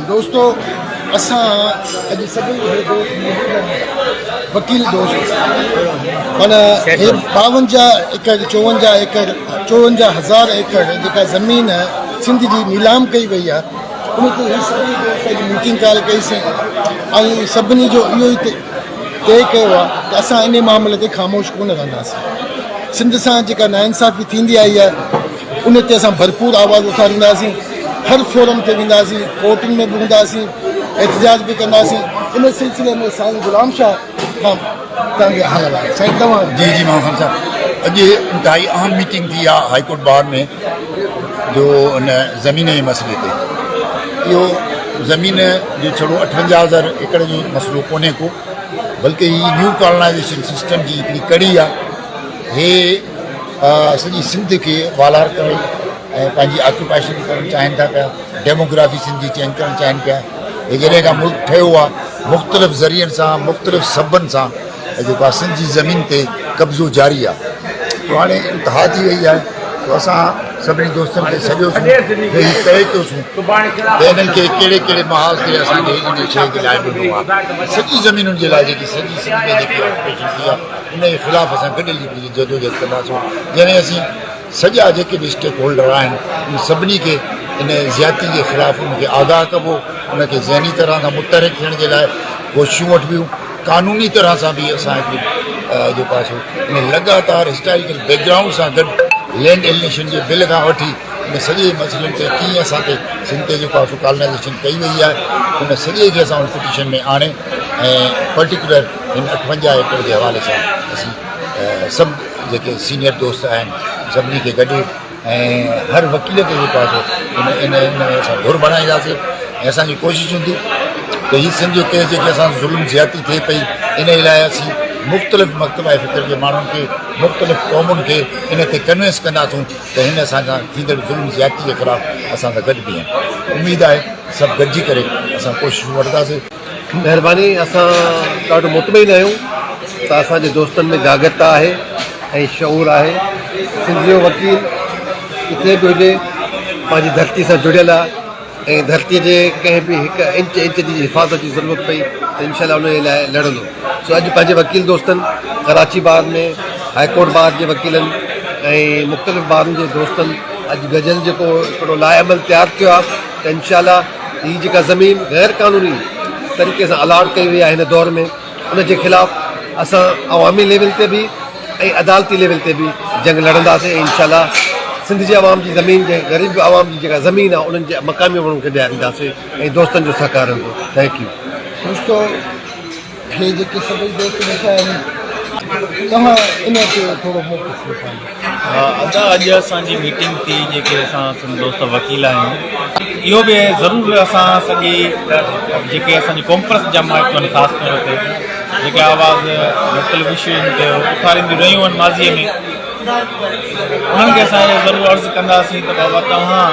دوستو اسان اڄ سڀني کي دوست وڪيل دوست مانا ٻاونجاهه ايڪڙ چوونجاهه ايڪڙ چوونجاهه هزار ايڪڙ جيڪا زمين سنڌ جي نيلام ڪئي وئي آهي ان تي هي سڀني دوست اڄ ميٽنگ ڪال ڪئيسين ۽ سڀني جو اهو ئي طے ڪيو آهي ته اسان ان معاملي تي خاموش ڪونه رهنداسين سنڌ سان جيڪا ناانصافي ٿيندي آئي آهي ان تي اسان ڀرپور آواز اٿارينداسين، هر فورم تي وينداسين، ڪورٽن ۾ به هونداسين، احتجاج به ڪنداسين، ان سلسلي ۾ سائين غلام شاهه کان توهان کي حال آهي، سائين توهان. جي جي ماڻهو خان صاحب اڄ انتهائي اهم ميٽنگ ٿي آهي هائي ڪورٽ بار ۾ جو ان زمين جي مسئلي تي اهو زمين جو ڇڙو اٺونجاهه هزار ايڪڙ جو مسئلو ڪونهي ڪو بلڪه هي نيو ڪالونائيزيشن سسٽم جي هڪڙي ڪڙي آهي هي سڄي سنڌ کي والار ڪرڻ ۽ پنهنجي آڪيوپائيشن ڪرڻ چاهين ٿا پيا ڊيموگرافي سنڌ جي چينج ڪرڻ چاهين پيا هي جڏهن کان ملڪ ٺهيو آهي مختلف ذريعن سان مختلف سببن سان جيڪو آهي سنڌ جي زمين تي قبضو جاري آهي تو هاڻي انتها ٿي وئي آهي تو اسان سڀني دوستن کي سڏيوسون هي طئي ڪيوسون ته انهن کي ڪهڙي ڪهڙي محاذ تي اسان کي ان شيء کي لاء ڏنو آهي سڄي زمينن جي لاء جيڪي سڄي سنڌ ۾ جيڪي آڪيوپيشن ٿي آهي ان جي خلاف اسان گڏيل جي جدوجهد ڪنداسون جڏهن اسين سڄا جيڪي به اسٽيڪ هولڊر آهن ان سڀني کي ان زيادتي جي خلاف ان کي آگاهه ڪبو ان کي ذهني طرح سان متحرڪ ٿيڻ جي لاء ڪوششون وٺبيون قانوني طرح سان به اسان هڪڙي جيڪو آهي سو ان لڳاتار هسٽاريڪل بيڪ گرائونڊ سان گڏ لينڊ ايلنيشن جي بل کان وٺي ان سڄي مسئلن تي ڪيئن اسان کي سنڌ تي جيڪو آهي سو ڪالنائزيشن ڪئي وئي آهي ان سڄي کي اسان ان پٽيشن ۾ آڻي ۽ پرٽيڪولر هن اٺونجاهه ايڪڙ جي حوالي سان اسين سڀ جيڪي سينيئر دوست آهن سڀني کي گڏي ۽ هر وڪيل کي جيڪو آهي سو ان ان ۾ اسان ڌر بڻائينداسين ۽ اسانجي ڪوشش هوندي ته هي سنڌ جو ڪيس جيڪي اسان ظلم زيادتي ٿئي پئي ان لاء اسين مختلف مڪتبه فڪر جي ماڻهن کي مختلف قومن کي ان تي ڪنوينس ڪنداسون ته هن اسان سان ٿيندڙ ظلم زيادتي جي خلاف اسان سان گڏ بيهن اميد آهي سڀ گڏجي ڪري اسان ڪوششون وٺنداسين مهرباني اسان ڏاڍو مطمئن آهيون ته اسان جي دوستن ۾ جاڳرتا آهي ۽ شعور آهي سنڌ جو وڪيل ڪٿي به هجي پنهنجي ڌرتي سان جڙيل آهي ۽ ڌرتي جي ڪنهن به هڪ انچ انچ جي حفاظت جي ضرورت پئي ته انشاء الله ان جي لاء لڙندو سو اڄ پنهنجي وڪيل دوستن Karachi bar ۾ high court bar جي وڪيلن ۽ مختلف بارن جي دوستن اڄ گجل جيڪو هڪڙو لائحه عمل تيار ٿيو آهي ته انشاء الله هي جيڪا زمين غير قانوني طريقي سان الاٽ ڪئي وئي آهي هن دور ۾ ان جي خلاف اسان عوامي ليول تي به ۽ عدالتي ليول تي به جنگ لڙنداسين ۽ انشاء الله سنڌ جي عوام جي زمين جي غريب عوام جي جيڪا زمين آهي انهن جي مقامي ماڻهن کي ڏيارينداسين ۽ دوستن جو سهڪار رهندو ٿينڪ يو دوستو هي جيڪي سڀئي دوست ويٺا آهن توهان انهن کي ٿورو موقف ڏيکاريو. ادا اڄ اسان جي ميٽنگ ٿي جيڪي اسان سنڌ دوست وڪيل آهيون اهو به ضرور اسان سڄي جيڪي اسان جي ڪونپرس جا مائٽ آهن خاص طور تي جيڪي آواز لوڪل وشين تي اٿارينديون رهيون آهن ماضي ۾ انهن کي اسان اهو ضرور عرض ڪنداسين ته بابا توهان